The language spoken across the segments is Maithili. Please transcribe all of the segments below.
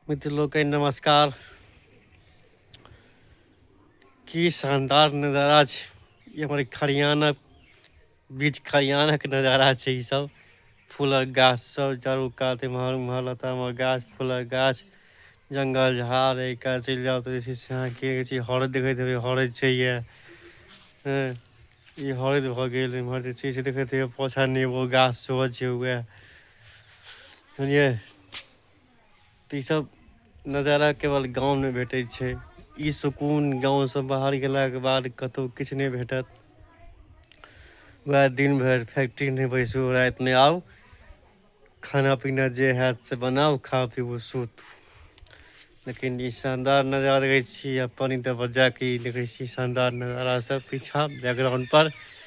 मित्र लोकनि नमस्कार की शानदार नजारा छै ई हमर खरियानक बीच खरियानक नजारा छै ई सब फूलक गाछ सब चारू कात एम्हर उम्हर लतामक गाछ फूलक गाछ जंगल झाड़ एहि कात चलि जाउ तऽ जे छै से अहाँ की कहै छै हरैद देखैत हेबै हरैद छै ये हँ ई हरैद भऽ गेल एम्हर जे छै से देखैत हेबै पोछा नेबो गाछ सेहो छै उएह बुझलियै तऽ ईसभ नजारा केवल गाँवमे भेटै छै ई सुकून गाँवसँ बाहर गेलाके बाद कतहु किछु नहि भेटत वएह दिन भरि फैक्ट्री नहि बैसू राति नहि आउ खाना पीना जे हयत से बनाउ खा पीबू सुत लेकिन ई शानदार नजारा देखै छी आ पानि त बजा क ई देखै छी शानदार नजारा सब पीछा बैकग्राउंड पर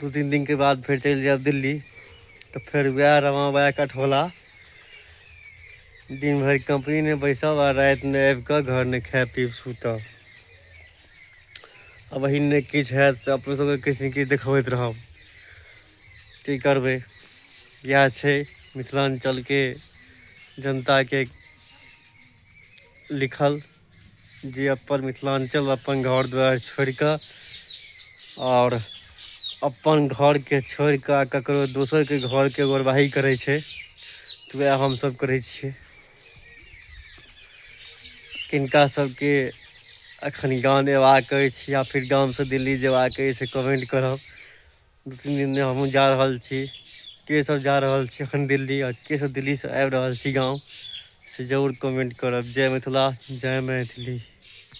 दू तीन दिनके बाद फेर चलि जायब दिल्ली तऽ फेर वएह रमा वएह कठोला दिन भरि कंपनीमे बैसब आ रातिमे आबि कऽ घरमे खाय पीब सुतब आ वही नहि किछु हैत तऽ अपनो सबके किछु ने किछु देखबैत रहब की करबै इएह छै मिथिलाञ्चलके जनताके लिखल जे अपन मिथिलाञ्चल अपन घर दुआरि छोड़ि कऽ आओर अपन घरके छोड़ि कऽ आ ककरो दोसरके घरके ओरवाही करै छै तऽ उएह हमसभ करै छियै किनका सभके एखन गाम अयबाक अछि या फेर गामसँ दिल्ली जयबाक अछि से कमेंट करब दू तीन दिनमे हमहूँ जा रहल छी के सब जा रहल छी एखन दिल्ली आ के सब दिल्लीसँ आबि रहल छी गाँव से जरूर कमेंट करब जय मिथिला जय मैथिली